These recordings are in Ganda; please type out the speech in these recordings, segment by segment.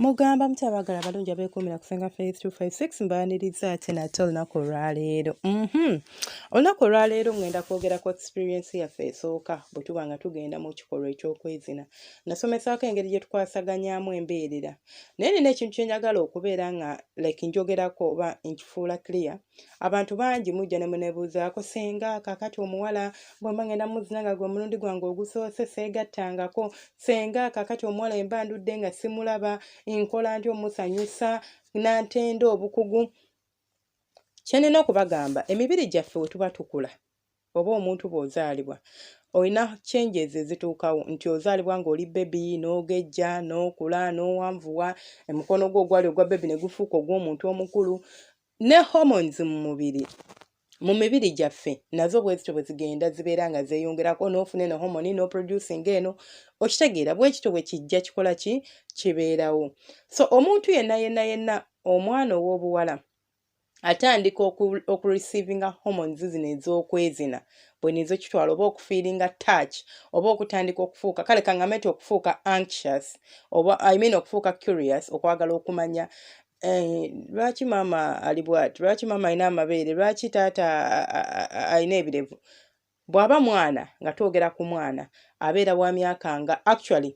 mugamba mutabagala abalungi abeekuumira kusenga 3256 mbaaniriza ate nate olunaku olwaleero mhm. olunaku olwaleero ngenda kwogerako experiensi yaffe esooka bwe tuba nga tugenda mu kikolwa eky'okwezina nasomesaako engeri gye tukwasaganyamu embeerera naye nina ekintu kyenyagala okubeera nga like njogerako oba nkifuula clear abantu bangi mujja ne munebuuzaako senga kakati omuwala bwemba ngenda muzina nga gwe omulundi gwange ogusoose seegattangako senga kakati omuwala emba ndudde nga simulaba nkola nti omusanyusa nantenda obukugu kyenina okubagamba emibiri gyaffe wetuba tukula oba omuntu bw'ozaalibwa olina changes ezituukawo nti ozaalibwa ng'oli bebi n'ogejja n'okula n'owanvuwa omukono gwo ogwali ogwa bebi ne gufuuka ogw'omuntu omukulu ne hormones mu mubiri mu mibiri gyaffe nazo bwezityo bwe zigenda zibeera nga zeeyongerako n'ofuna eno homoni n'oproducing eno okitegeera bwekityo bwe kijja kikola ki kibeerawo so omuntu yenna yenna yenna omwana ow'obuwala atandika okureceivinga hormones zino ez'okwezina bwena ezokitwala oba okufiiringa touch oba okutandika okufuuka kale kangambe nti okufuuka anxious oba i mean okufuuka curious okwagala okumanya Eh, lwaki maama ali bwati lwaki maama alina amabeere lwaki taata alina ebirevu bw'aba mwana nga twogera ku mwana abeera wa myaka nga actually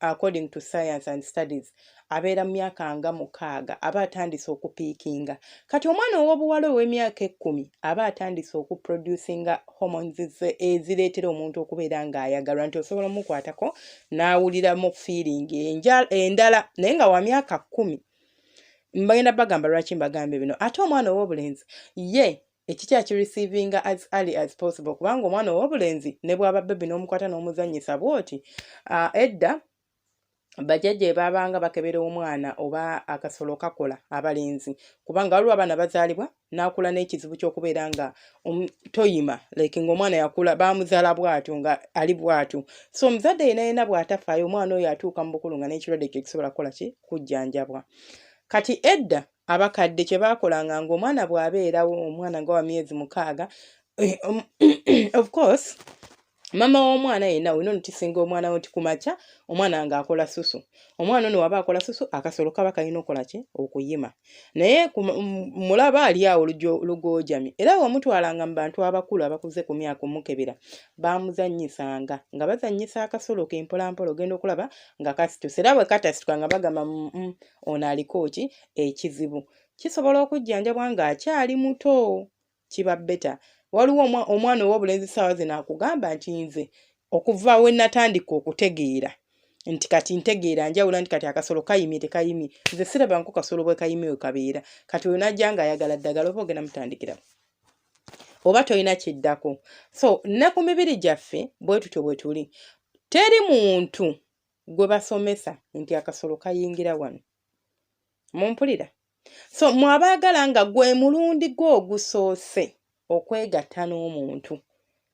according to science and studies abeera mu myaka nga mukaaga aba atandise okupiikinga kati omwana ow'obuwala ow'emyaka ekkumi aba atandise okuproducinga hormones ze ezireetera omuntu okubeera ng'ayagalwa nti osobola omukwatako n'awuliramu feeling endala naye nga wa myaka kkumi mbagenda bagamba lwaki mbagambye bino ate omwana ow'obulenzi ye ekikya ki receivinga as early as possible kubanga omwana ow'obulenzi ne bwaba bebi n'omukwata n'omuzannyisa bw'oti uh, edda bajajja ebaabanga bakebera omwana oba akasolo kakola abalenzi kubanga waliwo abaana bazaalibwa n'akula n'ekizibu ky'okubeera nga um, toyima like ng'omwana yakula baamuzaala bw'atyo nga ali bw'atyo so omuzadde yena yena bw'atafaayo omwana oyo atuuka mu bukulu nga n'ekirwadde kye kisobola kukola ki kujjanjabwa kati edda abakadde kye baakolanga ng'omwana bw'abeerawo omwana nga wa myezi mukaaga eh, um, of course mama w'omwana yenna olina onutisinga omwana wo nti ku makya omwana nga akola susu omwana ono waba akola susu akasolo kaba kalina okola ki okuyima naye mulaba ali awo lugoojami era wamutwalanga mu bantu abakulu abakuze ku myaka omukebera baamuzannyisanga nga bazannyisa akasolo ke mpolampola ogenda okulaba nga kasituse era bwe katasituka nga bagamba mm, mm, ono aliko ki ekizibu kisobola okujjanjabwa ng'akyali muto kiba beta waliwo omwana ow'obulenzi ssaawa zino akugamba nti nze okuva we natandika okutegeera nti kati ntegeera njawula nti kati akasolo kayimye tekayimye nze sirabanko kasolo bwe kayimye we kabeera kati oyo najja nga ayagala ddagala oba ogenda mutandikira oba tolina kiddako so ne ku mibiri gyaffe bwe tutyo bwe tuli teri muntu gwe basomesa nti akasolo kayingira wano mumpulira so mwabaagala nga gwe mulundi gwe ogusoose okwegatta n'omuntu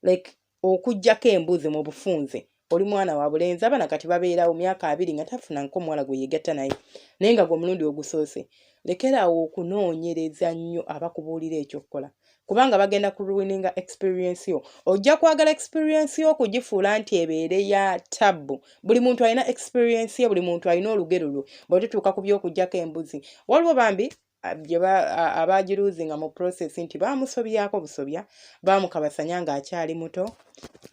like okugyako embuzi mu bufunze oli mwana wa bulenzi abana kati babeerawo myaka abiri nga tafuna nko omuwala gwe yegatta naye naye nga gwe omulundi ogusoose lekeraawo okunoonyereza nnyo abakubuulira ekyokukola kubanga bagenda ku ruininga experience yo ojja kwagala experience yo okugifuula nti ebeere ya tabbu buli muntu alina experience ye buli muntu alina olugero lwe bwetutuuka ku by'okugyako embuzi waliwo bambi abaagiruuzinga mu process nti baamusobyako busobya baamukabasanya ng'akyali muto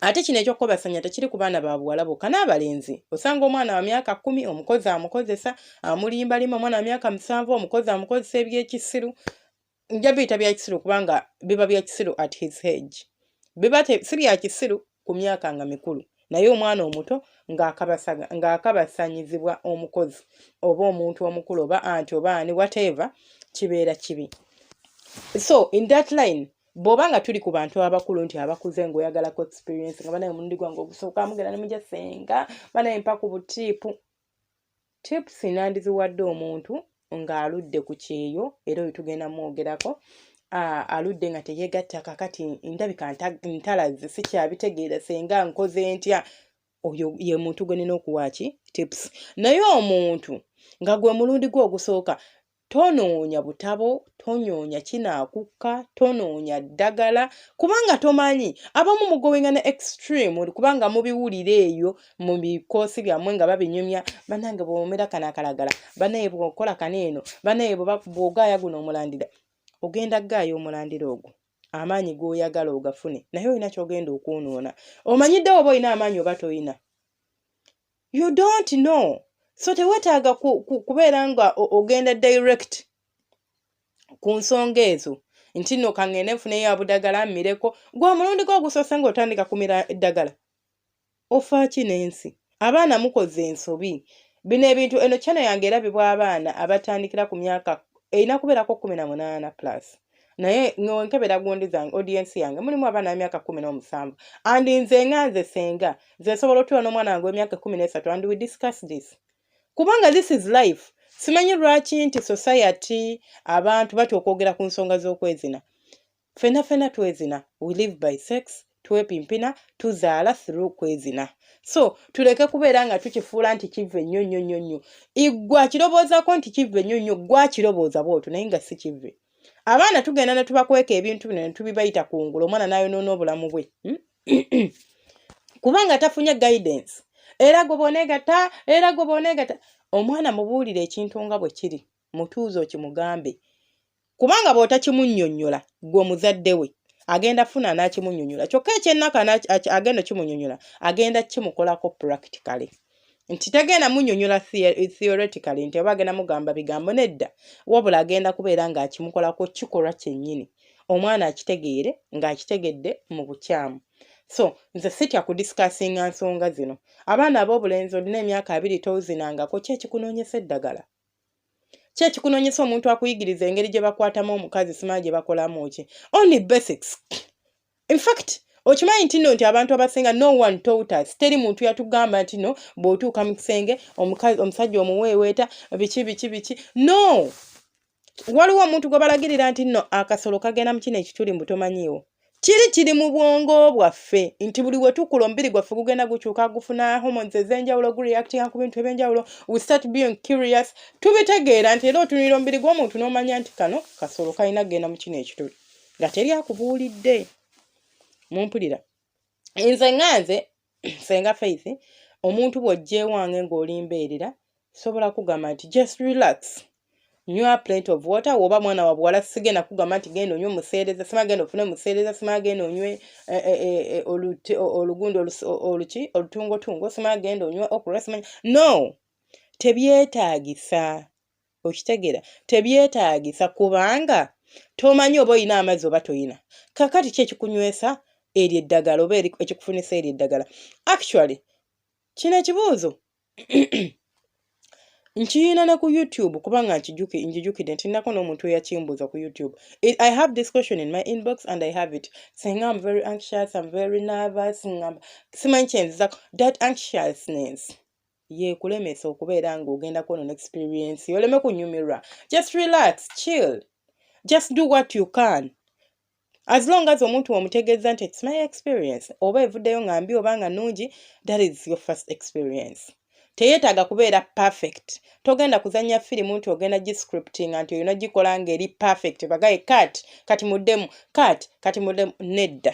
ate kino ekyokukobasanya tekiri ku baana ba buwala bokka n'abalenzi osanga omwana wa myaka kumi omukozi amukozesa amulimbalimba omwana wa myaka musanvu omukozi amukozesa ebyekisiru nja biyita bya kisiru kubanga biba bya kisiru at his age biba si bya kisiru ku myaka nga mikulu naye omwana omuto ng'akabasanyizibwa omukozi oba omuntu omukulu oba anti oba ani whatever kibeera kibi so in that line bw'oba nga tuli ku bantu abakulu nti abakuze ng'oyagalako experience nga banaye omulundi gwange ogusooka mugenda ne mugya senga banaye mpa ku butiipu Tips nandiziwadde omuntu ng'aludde ku kyeyo era oyo tugenda mwogerako aludde nga teyegatta kakati ndabika ntalazze sikyabitegeera senga nkoze ntya oyo ye muntu gwe nina okuwaaki tips naye omuntu nga gwe mulundi gwe ogusooka Tonoonya butabo, tonoonya kinaakukka, tonoonya ddagala kubanga tomanyi abamu mugowinga ne extreme kubanga mubiwulira eyo mu bikoosi byammwe nga babinyumya banange bwomera kano akalagala banaye bwokola kano eno banaye bwogaaya guno omulandira ogenda gaaya omulandira ogwo amaanyi g'oyagala ogafune naye olina kyogenda okwonoona omanyidde oba olina amaanyi oba tolina you don't know so tewetaaga kubeera nga ogenda direct ku nsonga ezo nti no kangende nfuneyo abudagala mmireko gwa mulundi gwo ogusoose ngaotandika kumira eddagala ofaaki n'ensi abaana mukoze ensobi bino ebintu eno kyano yange erabibwa abaana abatandikira ku myaka erina kubeerako kumi na munaana plus naye nonkebera gundi zange audience yange mulimu abaana emyaka kumi n'omusanvu and nze nga nze senga nze nsobola otuula n'omwana wange w'emyaka kumi n'esatu and we discuss this kubanga this is life simanyi lwaki nti society abantu batya okwogera ku nsonga z'okwezina fena fena twezina we live by sex twepimpina tuzaala through kwezina so tuleke kubeera nga tukifuula nti kivve nnyo nnyo nnyo nnyo igwe akiroboozako nti kivve nnyo nnyo gwe akirobooza bwotyo naye nga si kivve abaana tugenda ne tubakweka ebintu bino ne tubibayita ku ngulu omwana n'ayonoona obulamu bwe hmm? kubanga tafunye guidance era gwe boneegata era gwe boneegata omwana mubuulire ekintu nga bwe kiri mutuuze okimugambe kubanga bw'otakimunnyonnyola gwe omuzadde we agenda funa n'akimunnyonnyola kyokka ekyennaku agenda okimunnyonnyola agenda kimukolako practically nti tagenda munyonyola theoretically nti oba agenda mugamba bigambo nedda wabula agenda kubeera ng'akimukolako kikolwa kyennyini omwana akitegeere ng'akitegedde mu bukyamu so nze sitya kudisikasinga nsonga zino abaana ab'obulenzi olina emyaka abiri tozinangako ki ekikunoonyesa eddagala ki ekikunonyesa omuntu akuyigiriza engeri gye bakwatamu omukazi simanyi gye bakolamu ki only basics infact okimanyi nti no nti abantu abasinga no one told us teri muntu yatugamba nti no bw'otuuka mu kisenge omusajja omuweeweeta biki biki biki no waliwo omuntu gwe balagirira nti no akasolo kagenda mu kino ekituli mbu tomanyiiwo Kiri kiri mu bwongo bwaffe nti buli we tukula omubiri gwaffe gugenda gukyuka gufuna hormones ez'enjawulo gureactinga ku bintu eby'enjawulo we start being curious tubitegeera nti era otunulira omubiri gw'omuntu n'omanya nti kano kasolo kalina kugenda mu kino ekituli nga teri akubuulidde mumpulira nze nga nze senga faith omuntu bw'ojjeewange ng'oli mbeerera sobola kugamba nti just relax nywa plate of water woba mwana wa buwala sigenda kugamba nti genda onywe museereza sima genda ofune museereza sima genda onywe eh, eh, eh, olugundo oluki olutungotungo sima genda onywe okura sima no tebyetaagisa okitegeera tebyetaagisa kubanga tomanyi oba olina amazzi oba toyina kakati ki ekikunywesa eryo eddagala oba ekikufunisa eryo eddagala actually kino ekibuuzo nkiyina ne ku youtube kubanga njijukidde nti nako n'omuntu eyakimbuuza ku youtube i have this question in my inbox and i have it saying am very anxious am very nervous ngamba simanyi kyenzizako that anxiousness yekulemesa okubeera nga ogenda kwono ne experience oleme kunyumirwa just relax chill just do what you can as long as omuntu omutegeeza nti its my experience oba evuddeyo nga mbi oba nga nungi that is your first experience teyetaaga kubeera perfect togenda kuzanya firimu nti ogenda giscriptinga nti olina gikola nga eri perfect bagaye kat kati muddemu kat kati muddemu nedda